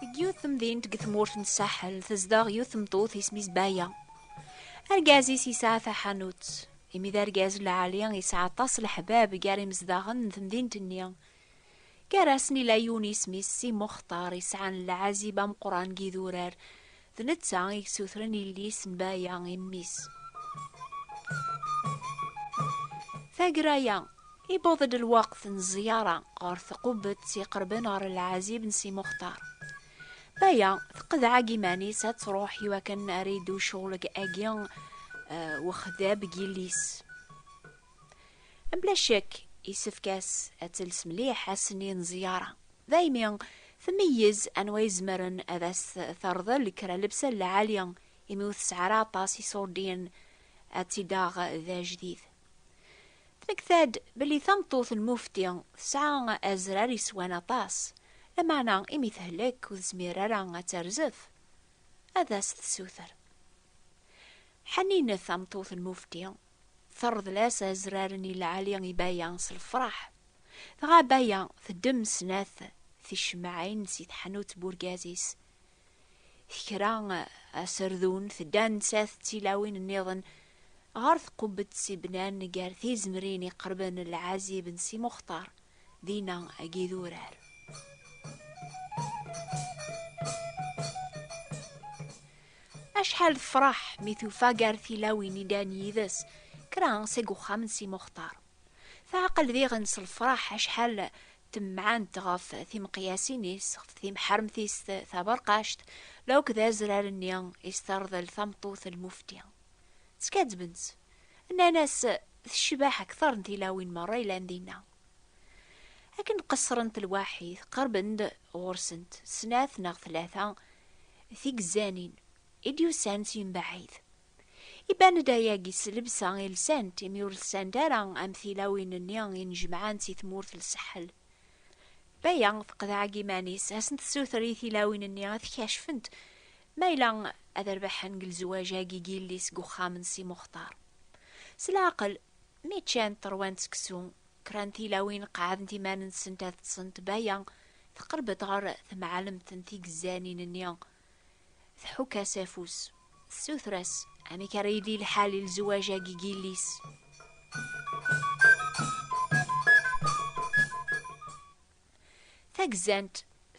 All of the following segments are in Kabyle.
Deg yiwet temdint deg tmurt n Saḥel tezdeɣ yiwet tmeṭṭut isem-is Baya. Argaz-is yesɛa taḥanut. Imi d argaz lɛali yesɛa aṭas leḥbab gar imezdaɣen n temdint-nni. Gar-asen ila yiwen isem-is Si Muxtar yesɛan lɛazib ameqran n yidurar D netta i yessutren illi-s n Baya i mmi-s. Taggara-ya, iwweḍ-d lweqt n ẓẓyara ɣer tqubbett iqerben ɣer lɛazib n Si Muxtar. Baya tqedɛa-g iman-is ad truḥ i wakken ara iddu ccɣel-agi wexdab n yilli-s. Bla ccek, yessefk-as ad tels mliḥ ass-nni n ẓẓyara. Daymi, tmeyyez anwa izemren ad as-terḍel kra lebsa n lɛali, imi ur tesɛi ara aṭas iṣurdiyen ad tt-id-taɣ d ajdid. Tmekta-d belli tameṭṭut n Mufti tesɛa azrar yeswan aṭas, lameɛna imi tehlek ur tezmir ara ad terzef, ad as-tessuter. Ḥaninet tameṭṭut n Mufti Terḍel-as azrar n Ilɛali i Baya s lefraḥ. Dɣa Baya teddem snat ticemmaɛin si teḥnut n urgaz-is. Tekra aserdun, tedda nettat d tilawin nniḍen ɣer tqubbet i bnan gar tizemrin iqerben lɛazib n Si Muxtar, dinna ag idurar. Acḥal tefreḥ mi tufa gar tilawin i dan yid-s kra seg uxxam n Si Muxtar. Teɛqel diɣen s lefraḥ acḥal temɛant ɣef timeqyasin-is, ɣef timḥermt-is taberqact, la akk d azrar-nni i s-terḍel tameṭṭut n Mufti. Skaddben-tt. Nnan-as tecbeḥ akteṛ n tilawin meṛṛa yellan dinna. Akken qeṣṣrent lwaḥit, qerben-d ɣur-sent snat neɣ tlata tigzanin i d-yusan si mebɛid. Iban-d ayagi s lebsa i lsant, imi ur lsant ara am tilawin-nni i njemɛen si tmurt n Saḥel. Baya teqḍeɛ deg iman-is, ad asen-tessuter i tilawin-nni ad t-kacfent ma yella ad rbaḥen deg lezwaj-agi n yelli-s deg uxxam n Si Muxtar. S leɛqel, Mi ččant, ṛwant seksu, kra n tilawin qeɛɛdent iman-nsent ad ṭṭsent. Baya teqreb-d ɣer temɛellemt n tigezzanin-nni, tḥukk-as afus, tessuter-as amek ara yili lḥal i lezwaj-agi n yelli-s. Tagzant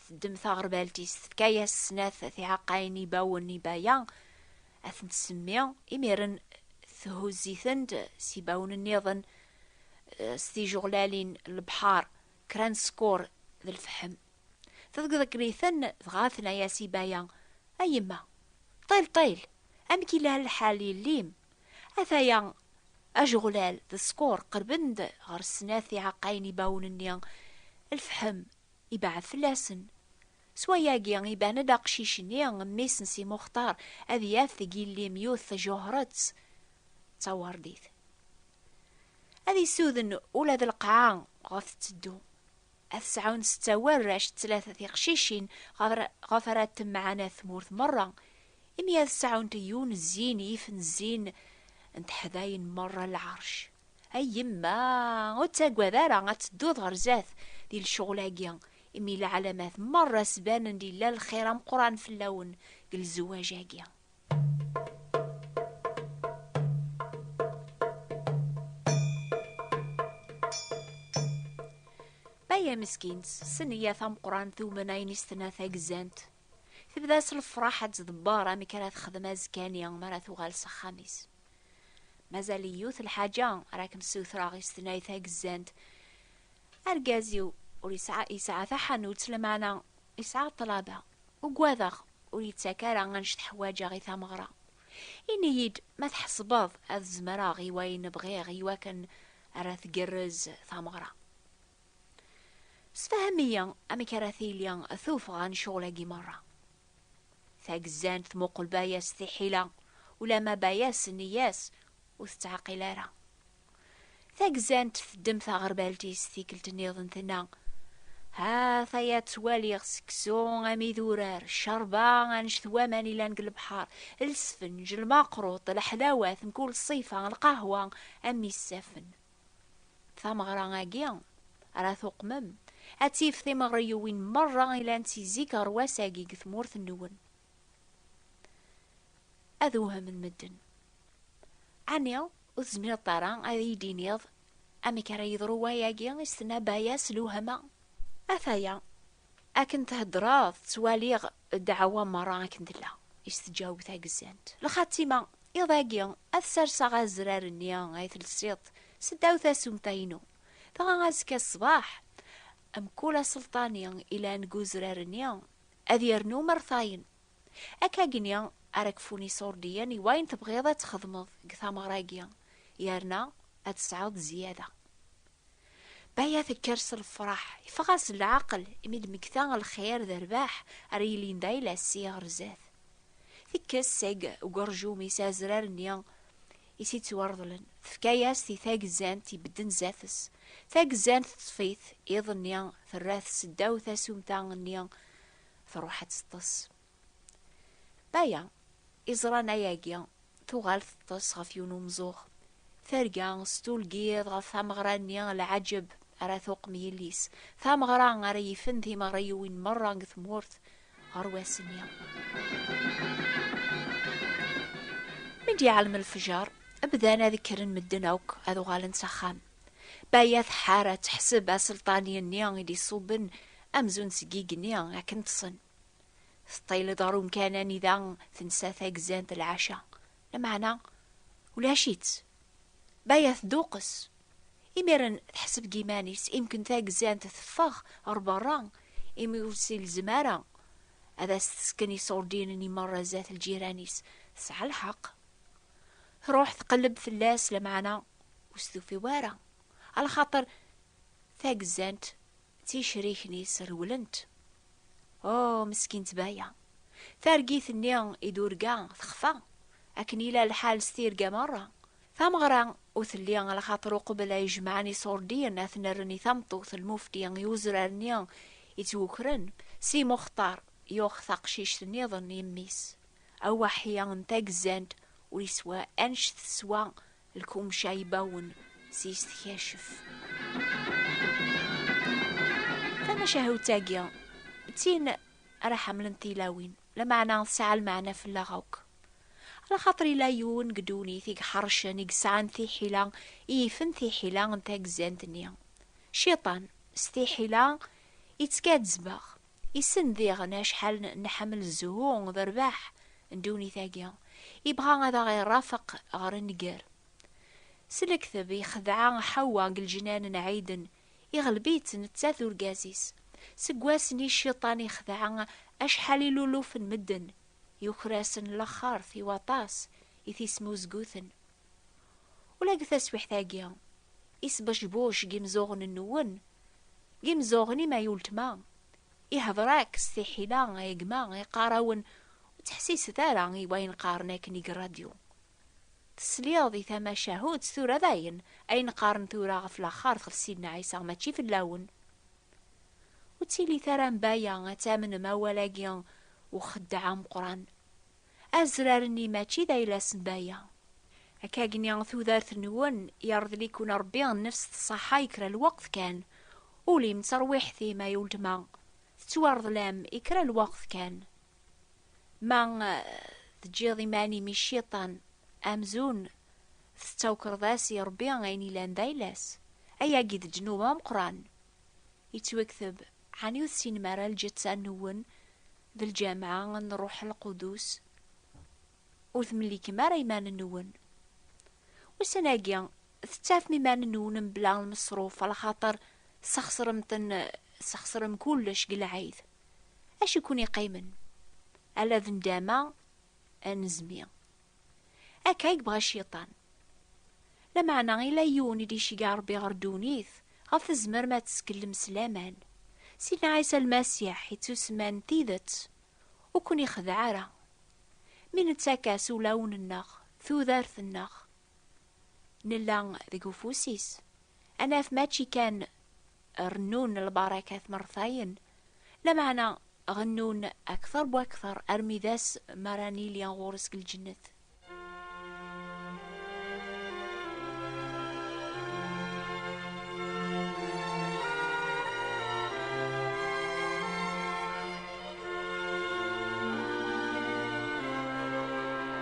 teddem taɣerbalt-is tefka-yas snat tiɛeqqayin n yibawen n yibaya, ad tent-semmi, imiren thuzz-itent s yibawen-nniḍen, s tijuɣlalin n lebḥar, kra n skur d lfeḥm. Tḍegḍegl-iten, dɣa tenna-yas yibaya, A yemma, ṭil ṭil, amek yella lḥal yelli-m? Ataya, ajeɣlal d ṣkur qerben-d ɣer snat iɛeqqayen ibawen-nni, lefḥem ibeɛɛed fell-asen. S wayagi, iban-d aqcic-nni, mmi-s n Si Muxtar, ad yaf deg yelli-m yiwet tjehret d tawardit. Ad isuden ula d lqaɛa ɣef tetteddu. ad sɛun setta warrac d tlata tiqcicin ɣef ara temɛana tmurt merra, imi ad sɛunt yiwen zzin yifen zzin n teḥdayin merra n lɛerc. Ay yemma, ur ttagad ara ad tedduḍ ɣer zdat di lecɣal-agi, imi leɛlamat merra sbanen-d yella lxir ameqqran fell-awen deg lezwaǧ-agi. Baya meskin tessen iya tameqrant d umnayen is tena tagzant. Tebda s lefraḥ ad tdebbar amek ara texdem azekani mi ara tuɣal s axxam-is. Mazal yiwet lḥaǧa ara kem-ssutreɣ is tena tagzant. Argaz-iw ur yesɛa yesɛa taḥanut lemaɛna yesɛa ṭṭlaba. Ugadeɣ ur yettak ara annect ḥwaǧeɣ i tameɣra. Ini-yi-d ma tḥesbeḍ ad zemreɣ i wayen bɣiɣ i wakken ara tgerrez tameɣra. Sefhem-iyi amek ara tili tuffɣa n ccɣel-agi merra. Tagezzant tmuqel Baya s tiḥila, ulamma Baya s nneyya-s ur tettɛaqil ara. Tagzant teddem taɣerbalt-is tikkelt niḍen tenna, Ha taya ttwaliɣ seksu am idurar, ccerba annect waman ilan deg lebḥer, lsfenj, lmaqrut, leḥlawat mkul ṣṣifa, lqahwa am isafen. Tameɣra-agi, ara tuqmem, ad tif timeɣriyuwin merra ilant si zik ɣer wass-agi deg tmurt-nwen. Ad wehhmen medden. Ɛni Ur tezmireḍ ara ad iyi-d-tiniḍ amek ara yeḍru wayagi? i s-tenna Baya s lewhama. Ataya, akken theddreḍ ttwaliɣ ddeɛwa merra akken tella, i s-teǧaweb tagezzant. Lxatima, iḍ-agi ad serseɣ azrar-nni ay telsiḍ s ddaw tasumta-inu, dɣa azekka ṣṣbeḥ, mkul aselṭani yellan deg uzrar-nni ad yernu mertayen. Akkagni ara kfun isurdiyen i wayen tebɣiḍ ad txedmeḍ deg tameɣra-agi, yerna ad tesɛuḍ zzyada. Baya tekker s lefraḥ, iffeɣ-as leɛqel imi d-mmekta lxir d rrbeḥ ara yilin d ayla-s si ɣer zdat. Tekkes seg ugerjum-is azrar-nni i s-ittwarḍlen, tefka-yas-t i tagezzant ibedden zdat-s. Tagezzant teṭṭef-it, iḍ-nni terra-t seddaw tasumta-nni truḥ ad teṭṭes. Baya, iẓran ayagi, tuɣal teṭṭes ɣef yiwen umzuɣ. Terga s tulgiḍ ɣef tameɣra-nni, lɛaǧeb ara tuqem yelli-s, tameɣra ara yifen timeɣriwin merra deg tmurt ɣer wass-nni. Mi d-iɛlem lefjer, bdan ad kkren medden akk ad uɣalen s axxam. Baya tḥara teḥseb aselṭan-nni i d-iṣubben amzun seg igenni akken ṭṭsen. Teṭṭil-d ɣer umkan anida tensa tagzant lɛaca, lameɛna ulac-itt. Baya tduqqes. Imiren teḥseb deg iman-is imken tagzant teffeɣ ɣer berra imi ur s-ilzem ara ad as-tesken iṣurdinen i merra zdat lǧiran-is. Tesɛa lḥeqq. Truḥ tqelleb fell-as lameɛna ur stufiw ara, a lxaṭer tagzant d ticrikin-is rewlent. Oh, meskint Baya! Targit-nni i d-urga texfa, akken yella lḥal s tirga merra. Tameɣra ur telli, a lxaṭer uqbel ay jemɛen iṣurdiyen ad ten-rren i tameṭṭut lmufti i uzrar-nni yettwukren, Si Muxtar yuɣ taqcict niḍen i mmi-s. Awaḥi n tagzant ur yeswa anect teswa Lkumca ibawen s is tkacef. Tamacahut-agi d tin ara ḥemmlent tilawin, lameɛna tesɛa lmeɛna fell-aɣ akk. Ala xaṭer yella yiwen deg ddunit i iḥercen, i yesɛan tiḥila, i yifen tiḥila n tagzant-nni. Cciṭan, s tiḥila, ittkazzeb-aɣ. Issen diɣen acḥal nḥemmel zzhu d rrbeḥ n ddunit-agi, ibɣa ad aɣ-irrafeq ɣer nnger. S lekteb ixdeɛ Ḥawwa deg leǧnan n Ɛiden, iɣleb-itt netta d urgaz-is. Seg wass n i cciṭan ixdeɛ acḥal iluluf n medden, yuker-asen laxert i waṭas i t-ismuzguten. Ula deg taswiḥt-agi, isbecbuc n yimzuɣen-nwen, n yimzuɣen-im ay uletma, ihder-ak s tiḥila ay gma, iqqar-awen ur ttḥessiset ara i wayen qqaren akken deg rradyu. Tesliḍ i tamacahut tura dayen ayen qqaren tura ɣef laxert ɣef Sidna Ɛisa mačči fell-awen. Ur ttilit ara am baya ad tamnem awal-agi uxeddeɛ ameqqran. Azrar-nni mačči d ayla-s n baya. Akkagni tudert-nwen yerḍel-iken Rebbi nnefs tṣaḥa i kra lweqt kan, ul-im d terwiḥt-im ay uletma tettwarḍel-am i kra lweqt kan. Ma teǧǧiḍ iman-im i cciṭan amzun tettawkreḍ-as i Rebbi ayen yellan d ayla-s, ayagi d ddnub ameqqran. Yettwekteb, Ɛni ur tessinem ara lǧetta nwen d lǧameɛ n Ṛṛuḥ Lqudus? Ur temlikem ara iman-nwen. Ussan-agi, tettafem iman-nwen mebla lmeṣruf, axaṭer tesxeṣrem-ten, tesxeṣrem kullec deg lɛid. Acu i ken-iqqimen? Ala d nndama n zmi. Akka i yebɣa cciṭan. Lameɛna ila yiwen i d-iceggeɛ Rebbi ɣer ddunit, ɣef tzemrem ad teskellem s laman. Sidna Ɛisa Lmasiḥ ittusemman tidet, ur ken-ixdeɛ ara. Mi nettak-as ulawen-nneɣ, tudert-nneɣ, nella deg ufus-is, ad naf mačči kan rennun lbarakat mertayen Lameɛna, ɣennun akteṛ bu akteṛ armi d ass mi ara nili ɣur-s deg lǧennet.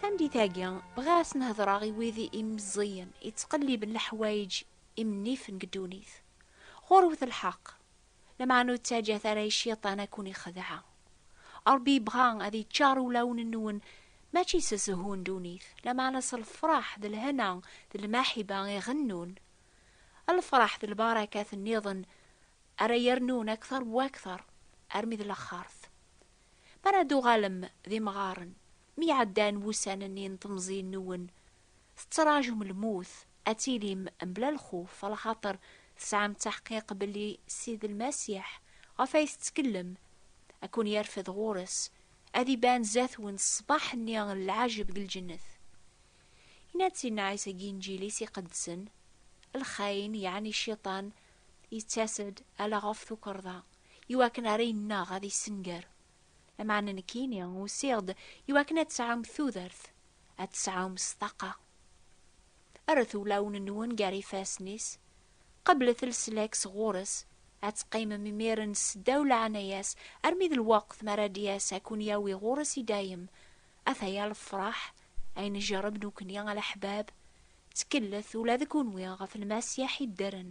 Tameddit-agi, bɣiɣ ad sen-hedreɣ i wid imeẓẓiyen yettqelliben leḥwayeǧ imennifen deg ddunit. Ɣur-wet lḥeqq, lameɛna ur ttaǧǧat ara i Cciṭan ad ken-ixdeɛ. Ṛebbi yebɣa ad yeččaṛ ulawen-nwen mačči s zzhu n ddunit, lameɛna s lefṛaḥ d lhena d lmaḥiba i ɣennun. Lefṛaḥ d lbarakat nniḍen ara yernun akteṛ bu akteṛ armi d laxeṛt. Mi ara d-tuɣalem d imɣaren, Mi ɛeddan wussan-nni n temẓi-nwen, tettraǧum lmut, ad tilim mebla lxuf, alaxaṭer tesɛam ttaḥqiq belli Sidi Lmasiḥ, ɣef ay tettkellem, ad ken-yerfed ɣur-s, ad iban zdat-wen ṣṣbeḥ-nni n lɛajeb deg lǧennet. Yenna-d Sidna Ɛisa deg Inǧil-is iqedsen, Lxayen, yeɛni Cciṭan, yettas-d ala ɣef tukerḍa, iwakken ara innaɣ, ad issenger. Lameɛna nekkini usiɣ-d i wakken ad tesɛum tudert, ad tesɛum ṣtaqa. Rret ulawen-nwen gar ifassen-is, qeblet leslak sɣur-s, ad teqqimem imiren seddaw leɛnaya-s armi d lweqt mi ara d-yas ad ken-yawi ɣur-s i dayem. Ata ya lefraḥ ay njerreb nekkni a leḥbab, ttkelleth ula d kenwi ɣef Lmasiḥ iddren.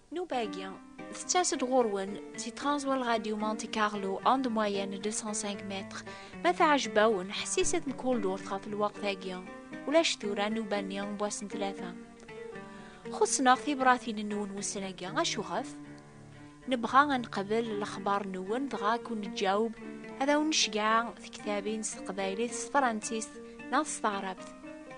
Nnuba-agi, tettas-d ɣur-wen si Transworld Radio Monte Carlo, onde moyenne 205 mètres. Ma teɛjeb-awen, ḥessiset mkul durt ɣef lweqt-agi. Ulac tura nnuba-nni n wass n tlata. Xussen-aɣ tibratin-nwen wussan-agi, acuɣef? Nebɣa ad nqabel lexbar-nwen dɣa ad kun-neǧǧaweb, ad awen-necgeɛ tiktabin s teqbaylit, s tefransist neɣ s taɛrabt.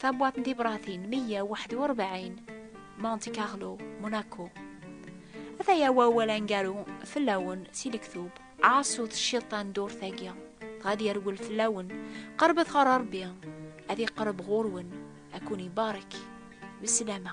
Tabwaḍt n tibṛatin 141, Monte Carlo, Monaco. Ataya wawal angaru fell-awen si lektub, ɛaṣut cciṭan ddurt-agi, dɣa ad yerwel fell-awen, qerbet ɣer Ṛebbi, ad iqreb ɣur-wen, ad kun-ibarek. Beslama.